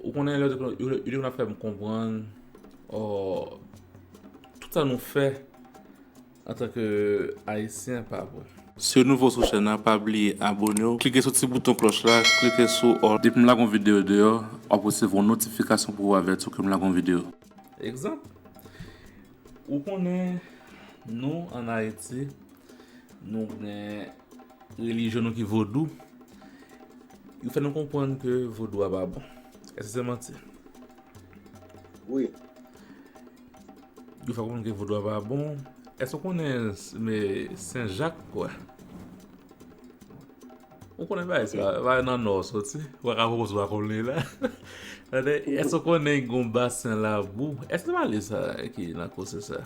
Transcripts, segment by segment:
Ou konnen lè yo te konn ap fè m konprann tout sa nou fè antanke ayisyen pa bon. Si w nouvo sou chèn nan pa bliye abone w klike sou ti bouton klòch la klike sou all. Depi m lage yon videyo deyò w ap resevwa yon notifikasyon pou avèti w ke m lage yon videyo. Egzanp, Ou konnen nou an Ayiti nou gen. Relijyon nou ki vodou, yo fè nou konprann ke vodou a pa bon. Eske se manti? Wi. Yo fè konprann ke vodou a pa bon. Eske ou konnen Sen Jak kwè? Ou konnen bagay sa? Bagay nan Nò soti. Ou pa ka fè kòmsi ou pa konn li la. Eske ou konnen gen yon basen labou? Eske se pa li sa ki nan kò se sa?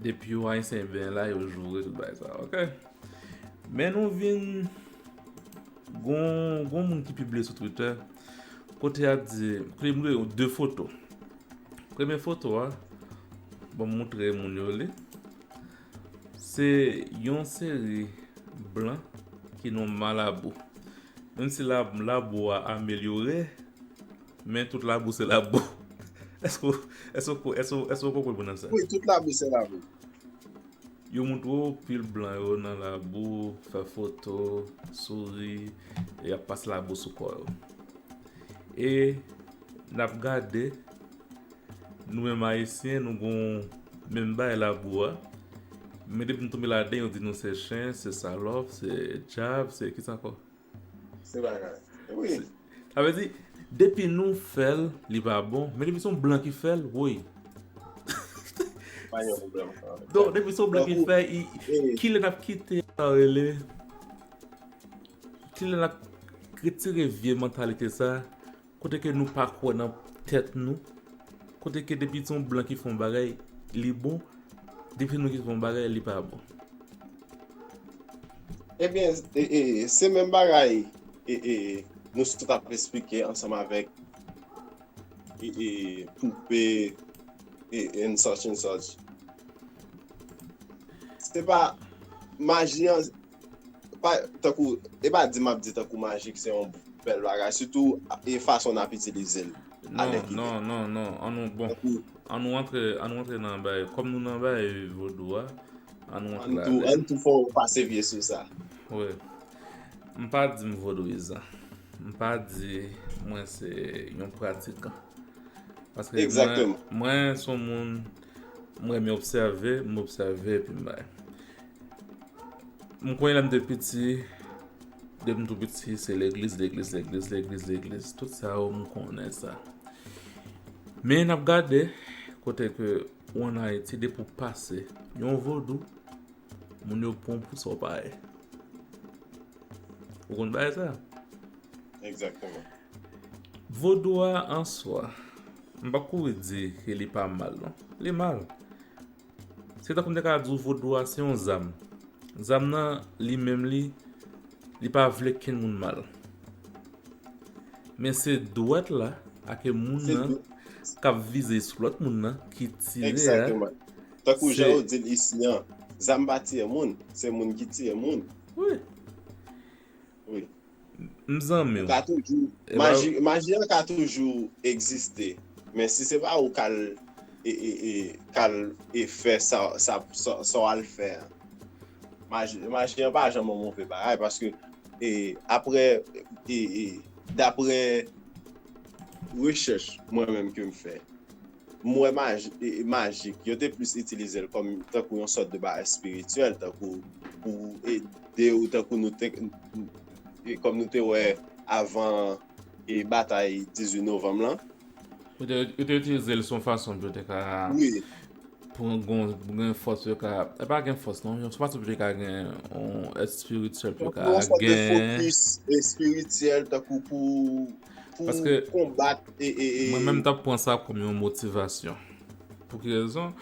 Depi yo ayisyen byen la yo joure tout bay sa ok. Men nou vin gon gon moun ki pibliye sou Twitter kote ap di kote mwen yo de foto. Premye foto a bon m moutre moun yo li se yon seri blan ki nou malabou. Menm si la labou a amelyore Men tout labou se labou. Eske ou konprann mwen nan sa? Wi, tout labou se labou. Yo montre w pil blan yo nan labou, fè foto, souri, e ap pase labou sou kò yo. E n ap gade, nou menm Ayisyen, nou gen yon menm bagay labou a. Men depi nou tonbe ladan, yo di nou se chen, se salòp, se djab, se kisa ankò? Se bagay. Wi. Sa vle di, depi nou fèl, li pa bon, men depi son blan ki fèl, woy. Pa gen pwoblèm. Don, depi son blan ki fè, ki lè nap kite sa yo rele? Ki lè nap retire vye mantalite sa? Kote ke nou pa kwè nan tèt nou, kote ke depi son blan ki fè yon bagay li bon, depi se nou ki fè yon bagay li pa bon. Ebyen se menm bagay nou sot ap esplike ansanm avèk poupe and such and such. Se pa maji an. Pa tankou, e pa di map di tankou majik se yon bèl bagay, sitou e fason nap itilize l. Non, non, non, non, an nou bon. An nou antre, an nou antre nan bay, kòm nou nan bay vodou a, an nou antre la. An tou, an tou fò ou pase vye sou sa. Wè, m pa di m vodouyizan. M pa di mwen se yon pratikan. Paske mwen, mwen son moun, mwen m obsève, m obsève epi m bay. M konnen lè m te piti, de m tou piti se legliz, legliz, legliz, legliz, legliz, tout sa yo m konnen sa. Men n ap gade kote ke ou an Ayiti depi ou pase yon vodou, moun yo pran w pou sa w pa ye. Ou konn bagay sa? Egzakteman. Vodou a an swa, m pa kouri di ke li pa mal non, li mal. Se tankou m te ka di w vodou a se yon zam. Zam nan li menm li, li pa vle kenn moun mal. Men se dwèt la ake moun nan k ap vize sou lòt moun nan ki tire a. Egzakteman. Tankou jan yo di l isi an, zam pa tiye moun, se moun ki tiye moun. Wi. Wi. M zanmi w. Ou ka toujou, maji, maji an ka toujou egziste. Men si se pa ou k al e, e, e, k al e fè sa, sa, sa w al fè an. Maji, maji an pa janm yon move bagay paske e, aprè e, e, daprè rechèch mwen menm ke m fè, M wè majik, yo te plis itilize l kòm tankou yon sòt de bagay espirityèl, tankou pou ede ou, tankou nou te, kòm nou te wè avan e batay 18 novanm lan. Yo te itilize l s on fason pou yo te ka, pou gen yon fòs pou yo ka, e pa gen fòs non, s on fason pou yo te ka gen yon èt espirityèl pou yo ka gen. Yon sòt de fokis espirityèl tankou pou. pou konbat e e e. Mwen menm tap pran sa kòm yon motivasyon. Pou ki rezon?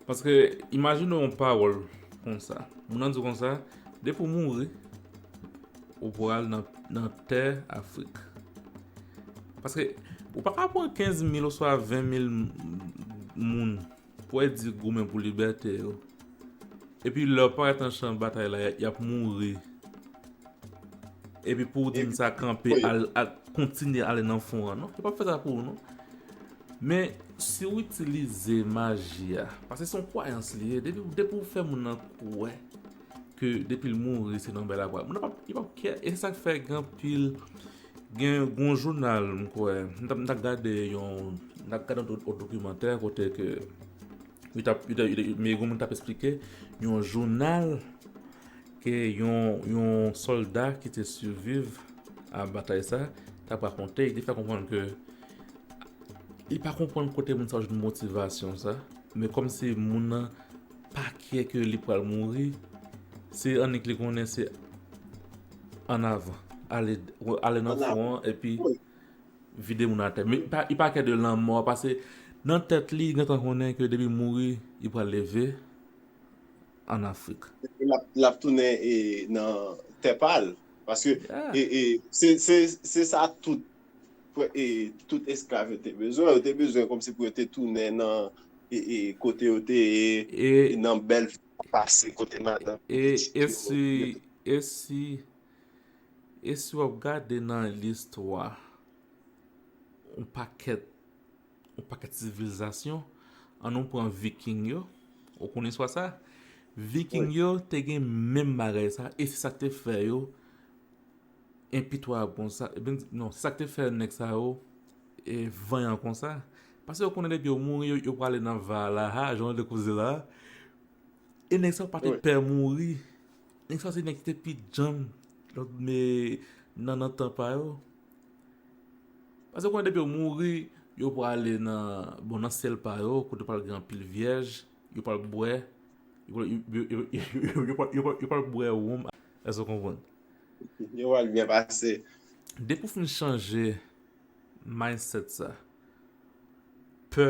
Paske imajine yon pawòl konsa. Moun nan di konsa, depi ou mouri, ou pral nan tè Afrik. Paske ou pa ka pran 15 mil oswa 20 mil moun. Pwèt di goumen pou libète yo. Epi lè yo parèt nan chan batay la yap mouri. Epi pouw di m sa kanpe al kontinye ale nan fon an non. Yo pap fè sa pou ou non. Men si ou itilize maji a. Pase son kwayans li ye. Depi ou fè moun nan kwè. Ke depi l mouri se nan bèlakwa. Moun nan pap kè. E se sak fè gen anpil. Gen yon jounal m kwè, m t ap gade yon dokimantè kote ke yon moun t ap esplike yon jounal ke yon sòlda ki te siviv a batay sa t ap rakonte. Li fè konprann ke li pa konprann kote moun sa yo jwenn motivasyon sa men kòmsi moun nan Pa kwe ke li pral mouri se annik li konnen se an avan ale ale nan fon an epi vide moun atè men li pa kwe de lanmò a pase nan tèt li gentan konnen ke depi mouri li pral leve an afrik lap tounen nan tè pal paske se sa tout tout esklav yo te bezwen, yo te bezwen kòmsi pou yo te tounen nan kote yo te ye, nan bèl vi yo te pase, kote madanm yo, pitit yo. E si, e si wap gade nan listwa, yon pakèt, yon pakèt sivilizasyon, an nou pran viking yo, ou konnen istwa sa? Viking yo te gen menm bagay sa, e se sa te fè yo, enpitwab konsa ebyen non sak te fè nèg sa yo vanyan konsa paske yo konnen depi yo mouri yo prale nan valaha jan nou te koze la e nèg sa yo pati pè mouri nèg sa yo se nèg ki te pi djanm nan tan pa yo paske yo konnen depi yo mouri yo prale nan syèl pa yo kote pral gen anpil vyèj yo pral bwè yo pral bwè woum èske ou konprann Yo wèl byen pase. Depi w fin chanje mindset sa, pè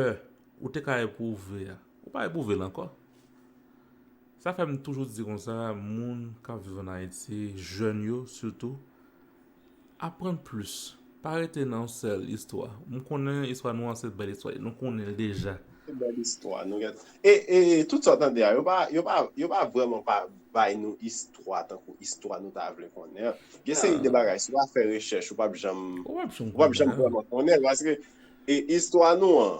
ou te ka epwouve a, ou pa epwouve l ankò. Sa fè m toujou di konsa, moun k ap viv an Ayiti, jèn yo sitou, aprann plis. Pa rete nan yon sèl istwa. M konnen istwa nou an se bèl istwa e nou konnen l deja. Se bèl istwa nou gen. E e e tout sa w tande a yo pa yo pa yo pa vrèman pa bay nou istwa tankou istwa nou ta vle konnen an. Gen seri de bagay si w pa fè rechèch ou p ap janm ou p ap janm vrèman konnen paske e istwa nou an.